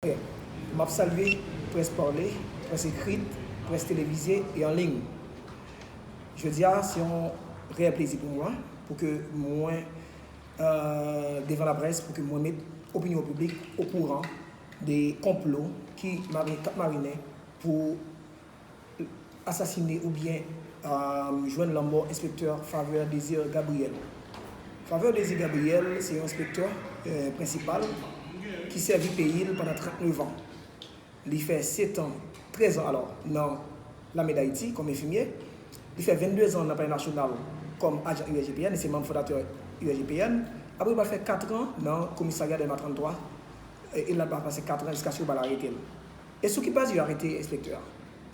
M ap salye près pale, près ekrit, près televize e an liy. Jodi a se yon reyèl plezi pou mwen pou ke mwen devan laprès pou ke mwen met opinyon piblik okouran de konplo ki kap marinen pou asasine oubyen jwenn lanmò enspektè Faveur Désir Gabriel. Faveur Désir Gabriel se yon enspektè prensipal ki sèvi peyi l pandan 39 an. Li fè setan, trèz an alò, nan lame Dayiti kòm enfimye. Li fè venn-de zan nan Palè Nasyonal kòm ajan USGPN, li se manm fondatè USGPN. Apre li pral fè katran nan komisarya Dèlma 33, e l ap pase katran jiskaske yo pral arete l. E sou ki baz yo arete enspektè a?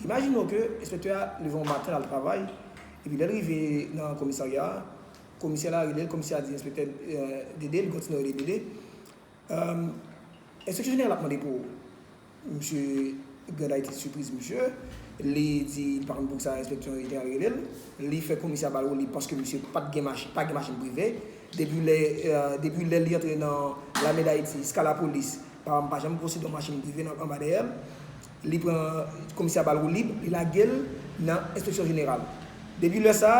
Imajine w ke enspektè a leve yon maten lal travay, epi lèl rive nan komisarya a, komisè la relel, komisè a di enspektè Dede, li kontinye rele Dede, Enspeksyon jeneral ap mande pou ou. Misye Grand Ayiti sipriz misye, li di li pa konn poukisa enspeksyon jeneral relel, li fè komisè a bal wouliy paske misye pa gen machin prive. Depi lè li antre nan lame dayiti ska lapolis pa janm konsidè yon machin prive anba dèyè l li pran komisè a bal woulib li lage l nan enspeksyon jeneral depi lè sa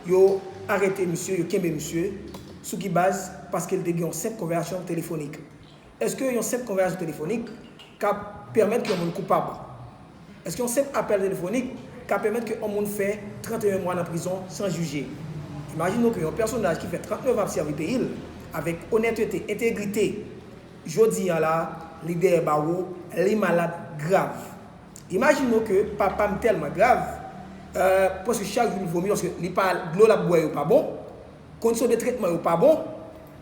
yo arete misye yo kenbe misye sou ki baz paske l te gen yon senp konvèyasyon telefonik Èske yon senp konvèyasyon telefonik ka pèmèt ke yon moun koupab? Èske yon senp apèl telefonik ka pèmèt ke yon moun fè 31 mwa nan prizon san jije? Imajine w ke yon pèsonaj ki fè 39 an ap sèvi peyi l avèk onètete, entegrite, jodi an la, li dèyè bawo, li malad grav. Imajine w ke papa m tèlman grav, eh, prèske chak jou li vomi paske li pa, dlo l ap bwè yo pa bon. Kondisyon de tretman yo pa bon.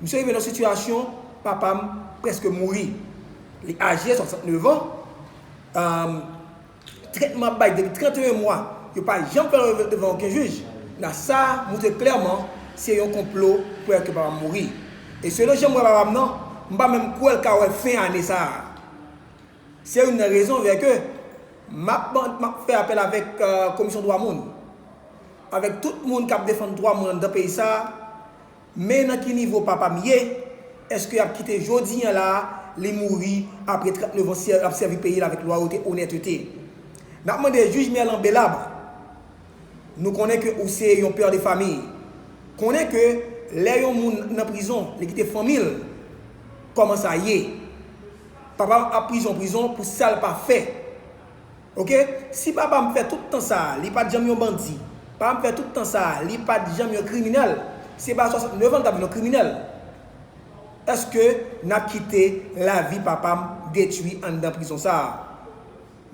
Misye rive nan yon sitiyasyon, papa m prèske mouri. Li aje, 69 an. Tretman ap bay depi 31 mwa. Yo pa janm fè l ale devan oken jij. Na sa a montre klèman se yon konplo pou fè ke papa m mouri. E selon jan m wè papa m nan, m pa menm kwè l ka wè fen ane sa a. Se youn nan rezon vè ke map map fè apèl avèk komisyon dwa moun, avèk tout moun kap defann dwa moun anndan peyi sa, men nan ki nivo papa m ye, eske yap kite jodi an la li mouri apre 39 ans lap sèvi peyi l avèk lwayote, onètete. Nap mande jij Merlan Belabre, nou konnen ke ou se yon père de famille, konnen ke lè yon moun nan prizon li kite fanmi l, kòman sa ye? Papam ap prizon prizon pou sal pa fè ok si papam fè tout tan sa li pat janm yon bandi papam fè tout tan sa li pat janm yon kriminèl se pa 69 an li tap vin yon kriminèl eske nap kite lavi papam detwi anndan prizon sa.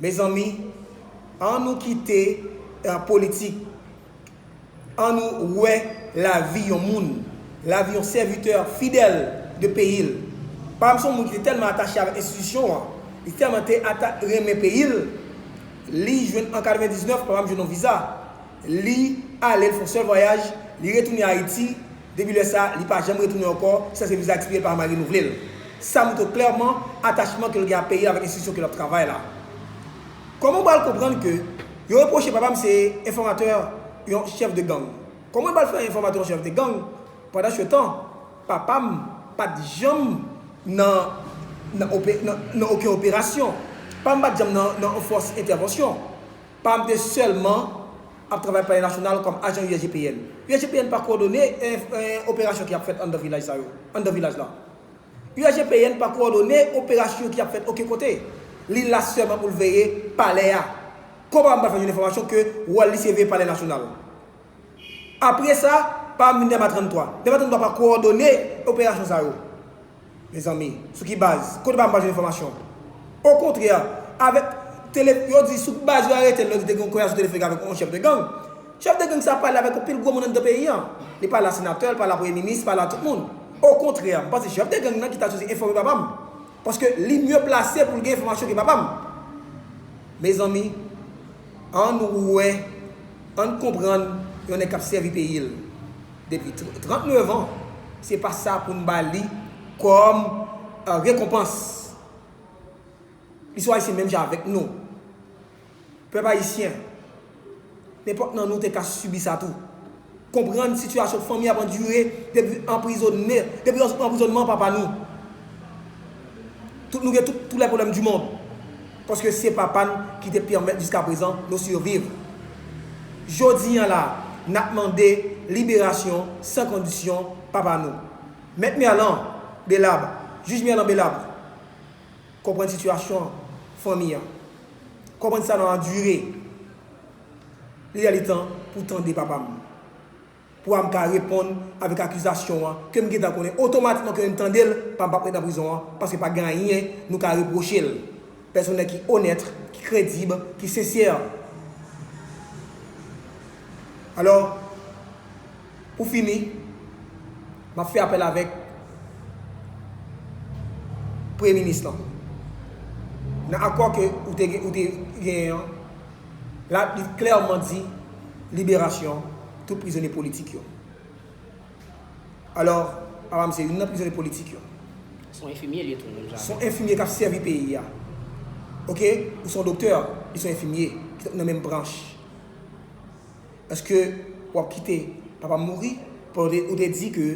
Mezanmi an nou kite politik an nou wè lavi yon moun, lavi yon sèvitè fidèl de peyi l. Pam se yon moun ki te tèlman atache avèk enstitisyon an, li tèlman te renmen peyi l, li jwenn an 99 papa m jwenn yon viza. Li ale, l fè yon sèl vwayaj, li retounen Ayiti, depi lè sa, li pa janm retounen ankò, ki sa se viza ekspire l pa janm renouvle l. Sa montre w klèman atachman ke l gen ak peyi l avèk enstitisyon ke l ap travay la. Kòman ou pral konprann ke yo repwoche papa m se enfòmatè yon chèf de gang? Kòman yo pral fè yon enfòmatè yon chèf de gang? Pandansetan, papa m pa t janm nan nan oken operasyon. Papa m pa t janm nan nan yon fòs entèvansyon. Pam te sèlman ap travay Palè Nasyonal kòm ajan USGPN. USGPN pa kowòdone operasyon ki ap fèt anndan vilaj sa yo, anndan vilaj la. USGPN pa kowòdone operasyon ki ap fèt oken kote. Li la sèlman pou l veye Palè a. Kòman m pral fè jwenn enfòmasyon ke wòl li se veye Palè Nasyonal? Apre sa, pa moun Dèlma 33. Dèlma 33 pa kowòdone operasyon sa yo. Mezanmi, sou ki baz? Kote pa m pa jwenn enfòmasyon? Okontrè, avèk tele, yo di sou baz yo arete l, yo di te gen yon konvèsasyon telefònik avèk yon chèf de gang. Chèf de gang sa a pale avèk anpil gwo moun anndan peyi an. Li pale a senatè, li pale a premye minis, li pale a tout moun. Okontrè, m panse chèf de gang nan ki ta sipoze enfòme papa m. Paske li mye plase pou l gen enfòmasyon ke papa m. Mezanmi, annou wè. Ann konprann yon nèg kap sèvi peyi l depi 39 ans se pa sa poun ba li kòm rekonpans li sou ayisyen menm jan avèk nou pèp ayisyen nenpòt nan nou te ka sibi sa tou konprann sitiyasyon fanmi ap andire depi anprizonne depi anprizonman papa nou tout nou gen tout lè pwoblèm du mond. Paske se Papa n ki te pèmèt jiskaprezan nou siviv. Jodi an la, n ap mande liberasyon san kondisyon Papa nou. Mèt Merlan Belabre, Jij Merlan Belabre, konprann sitiyasyon fanmi an. Konprann sa n ap andire. Li lè li tan pou tande papa m. Pwa m ka reponn avèk akizasyon an ke m gentan konnen otomatikman ke yo tande l pa m pap ret nan prizon an paske pa gen anyen nou ka repwoche l pèsonè ki onèt ki kredib ki sensè alò pou fini m ap fè apèl avèk premye minis lan nan akò ke ou te genyen an. La li klèman di liberasyon tout prizonye politik yo. Alò, papa m se youn nan prizonye politik yo. Se yon enfimye l ye tou, menm jan avè m. Se yon enfimye k ap sèvi peyi a. Ok, ou se yon doktè, li se yon enfimye ki nan menm branch. Èske w ap kite papa m mouri pandan ou te di ke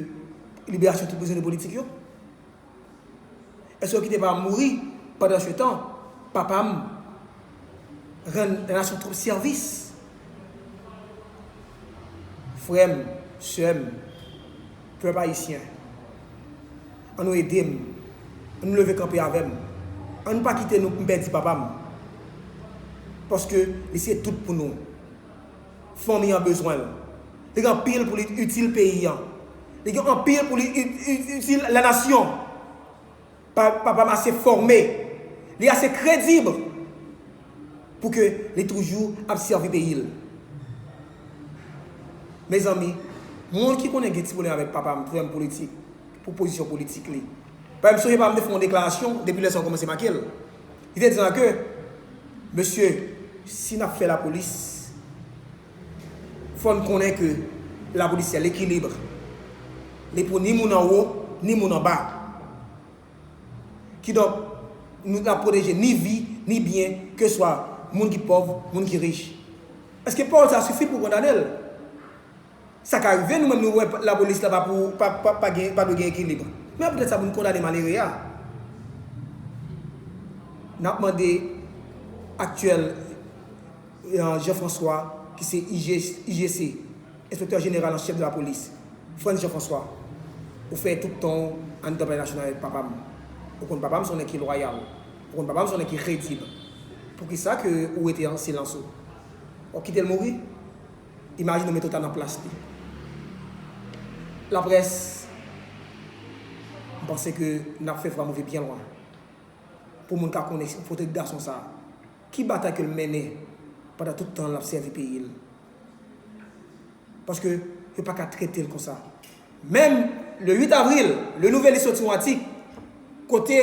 liberasyon tout prizonye politik yo? Eske yo kite pa mouri pandan se tan papa m rann nasyon twop sèvis frè m sè m pèp ayisyen an nou ede m an nou leve kanpe avè m an nou pa kite m pèdi papa m paske li se tout pou nou. Fanmi an bezwen l. Li gen anpil pou li itil peyi an. Li gen anpil pou li itil lanasyon. Papa m ase fòme. Li ase kredib pou ke li toujou ap sèvi peyi l. Mezanmi, moun ki konnen gen ti pwoblèm avèk papa m, frè m politik, pou pozisyon politik li. Paske m sonje papa m te fè yon deklarasyon, depi lè sa yo kòmanse make l. Li te di lan ke, Mesye, si n ap fè lapolis, fò n konnen ke lapolis se lekilib. Li pou ni moun anwo, ni moun anba. Kidonk, nou ta pwoteje ni vi, ni byen, keswa moun ki pòv, moun ki rich. Eske pawòl sa a sifi pou w kondane l? Sa ka rive nou menm nou wè lapolis la pa dwe gen ekilib. Men apre sa pou nou kondane malere a? N ap mande aktyèl Jean François ki se IGC, Enspektè Jeneral an Chèf de la Polis, Frantz Jean François, ou fè tout tan w anndan palè nasyonal avèk papa m. Ou konn papa m se yon nèg ki lwayal. Ou konn papa m se yon nèg ki kredib. Poukisa ke ou rete an silans ou? W ap kite l mouri? Imajine w mete w ta nan plas li. Laprès, m panse ke n ap fè Franck rive byen lwen. Pou moun ka konnen potèt gason sa a, ki batay ke l mennen pandan tout tan l ap sèvi peyi l. Paske yo pa ka trete l konsa. Menm le 8 avril, Le Nouvelliste soti yon atik kote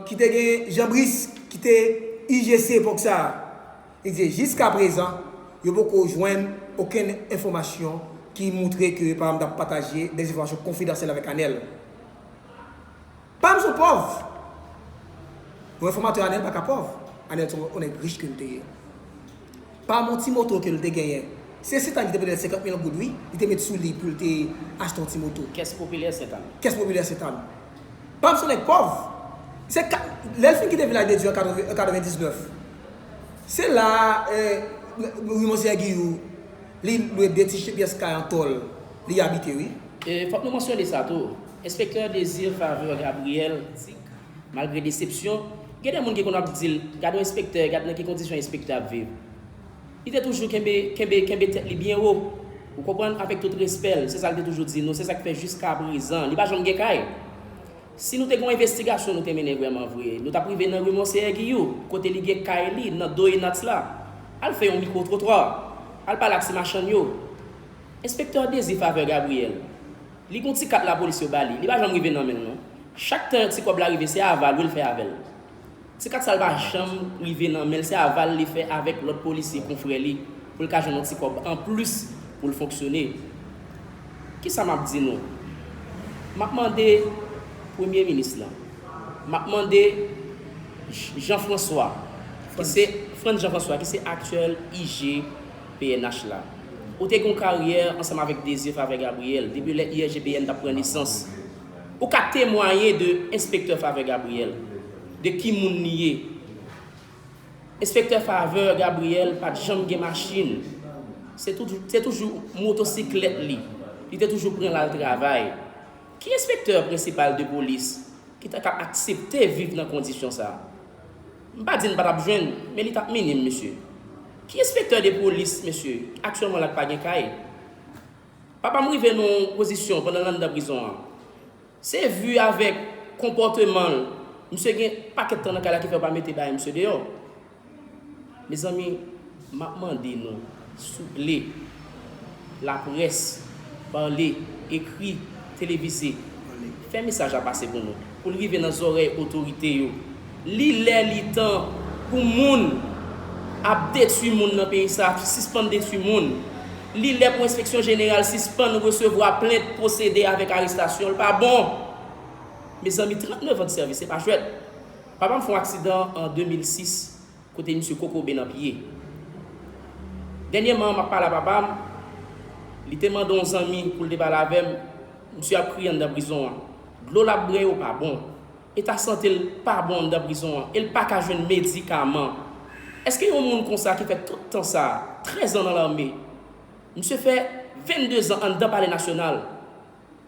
ki te gen Jean Brice ki te IGC epòk sa a. Li di jiska prezan yo poko jwenn okenn enfòmasyon ki moutre ke papa m tap pataje dè enfòmasyon konfidansyèl avèk Anèl. Papa m son pòv! Yon enfòmatè Anèl paka pòv. Anèl son yon nèg rich ke l te ye. Papa m yon ti moto ke l te genyen. Se Sentann ki te prete l 50 mil goud wi, li te met sou li pou l te achte yon ti moto. Kès popilè Sentann. Kès popilè Sentann. Papa m son nèg pòv. Se ka, lè l fin kite Vilaj de Dye an 80 an 99. Se la euh wi monseyè Giyou li lwe 2 ti pyès kay an tòl li abite wi. Euh fòk nou mansyone sa tou, enspektè Désir Faveur Gabriel di k malgre desepsyon, gen de moun ki konn ap di l gad on enspektè, gad nan ki kondisyon enspektè ap viv. Li te toujou kenbe kenbe kenbe tèt li byen wo ou konprann avèk tout respè l, se sa l te toujou di nou, se sa k fè jiskaprezan li pa janm gen kay. Si nou te gon envestigasyon nou te mennen vrèman vre, nou tap rive nan rue Monseyè Giyou, kote li gen kay li, nan do Enats la. Al fè yon mikwo twotwa. Al pale ak ti machann yo. Enspektè Dezi Faveur Gabriel, li gon ti kat lapolis yo ba li, li pa janm rive nan men l non. Chak tan yon ti kòb la rive se ava lwe l fè avè l. Ti kat sa l pa janm rive nan men l se aval li fè avèk lòt polisye konfrè li pou l ka jwenn yon ti kòb anplis pou l fonksyone. Ki sa m ap di nou? M ap mande Premye Minis lan, m ap mande Jean François ki se, Frantz Jean François ki se aktyèl IG pnh la, ou te gen yon karyè ansanm avèk Désir Favre Gabriel depi lè IRGPN t ap pran nesans. Ou ka temwaye de enspektè Faveur Gabriel, de ki moun li ye. Enspektè Faveur Gabriel pa t janm gen machin, se toujou motosiklèt li, li te toujou pran l al travay. Ki enspektè prensipal de polis ki ta ka aksepte viv nan kondisyon sa? M pa di n pa t ap jwenn, men li t ap minim mesye. Ki enspektè de polis mesye, aktyèlman la k pa gen kay? Papa m rive nan yon pozisyon pandan l anndan prizon an. Se vu avèk konpòteman l, misye gen pakèt tan nan kay la ki fè yo pa mete bagay misye deyò. Mezanmi, m ap mande nou, souple, laprès, pale, ekri, televize, fè mesaj la pase pou nou. pou l rive nan zòrèy otorite yo. Li lè li tan pou moun ap detwi moun nan peyi sa sispann detwi moun. Li lè pou enspeksyon jeneral sispann resevwa plent pwosede avèk arestasyon l pa bon. Mezanmi 39 an de sèvis se pa jwèt. Papa m fè yon aksidan an 2006 Kote misye kokobe nan pye. Dènyèman an map pale a papa m, li te mande yon zanmi pou l te pale avè m, misye ap kriye anndan prizon an. Dlo lap bre yo pa bon. Eta sante l pa bon anndan prizon an e l paka jwenn medikaman. Eske yon moun konsa ki fè tout tan sa, 13 an nan lame, misye fè 22 zan anndan palè nasyonal,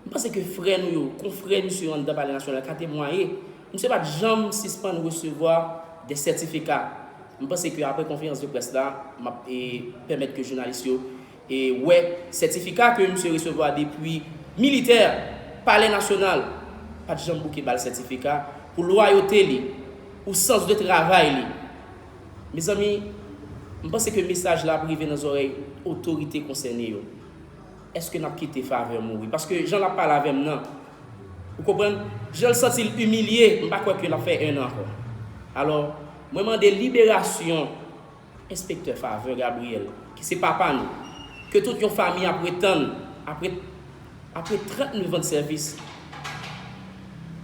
M panse ke frè nou yo, konfrè misye yo anndan Palè Nasyonal ka temwaye, misye pa t janm sispann resevwa dè sètifika. M panse ke aprè konferans de près la, m ap pèmèt ke jounalis yo wè sètifika ke misye resevwa depi militè Palè Nasyonal pa t janm bouke ba l sètifika pou lwayote li, pou sans de travay li. Mezanmi, m panse ke mesaj la ap rive nan zòrèy otorite konsène yo. Eske nap kite faveur mouri paske jan lap pale avem nan ou konprann janl santil imilye m pa kwè ke lap fè 1 an ankò alò mwen mande liberasyon enspektè faveur Gabriel ki se papa nou ke tout yon fami ap ret tann apre apre 39 ans de sèvis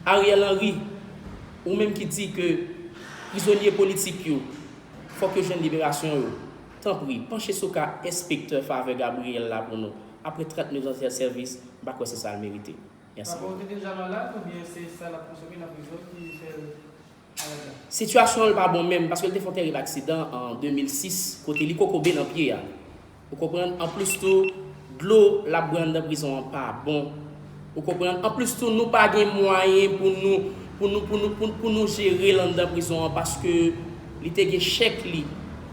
Ariel Henry ou menm ki di ke prizonye politik yo fòk yo jwenn liberasyon yo. Tanpri, panche sou ka enspektè Faveur Gabriel la pou nou. Apre 39 ans de sèvis, m pa kwè se sa l merite. Mèsi. Favor te deja malad oubyen se sa lap konsome nan prizon ki fèl malad la? Sitiyasyon l pa bon menm paske l te fè yon terib aksidan an 2006 kote li kokobe nan pye a. Ou konprann? Anplis tou, dlo lap bwè anndan prizon an pa bon. Ou konprann? Anplis tou nou pa gen mwayen pou nou pou nou pou nou pou nou jere l anndan prizon an paske li te gen chèk li.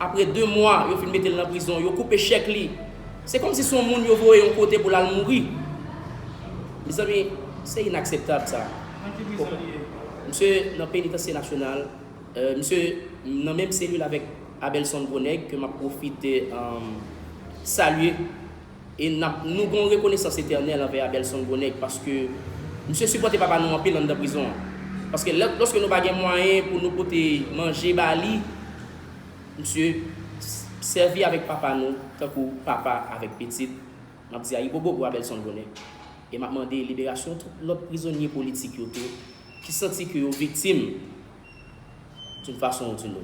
Apre 2 mwa yo fin mete l nan prizon, yo koupe chèk li. Se kòmsi se yon moun yo voye yon kote pou l al mouri. Mezanmi, se inakseptab sa. Nan ki prizon li ye? Misye nan Penitansye Nasyonal. Misye nan menm selil avèk Abelson Gros Nèg ke m ap pwofite salye. E n ap nou gon rekonesans etènèl anvè Abelson Bonèg paske misye sipòte papa nou anpil anndan prizon an. Paske lè lòske nou pa gen mwayen pou nou pote manje ba li, misye sèvi avèk papa nou tankou papa avèk pitit. M ap di ayibobo pou Abelson Bonèg. E m ap mande liberasyon tout lòt prizonye politik yo tou ki santi ke yo viktim. Tout fason ou di nou.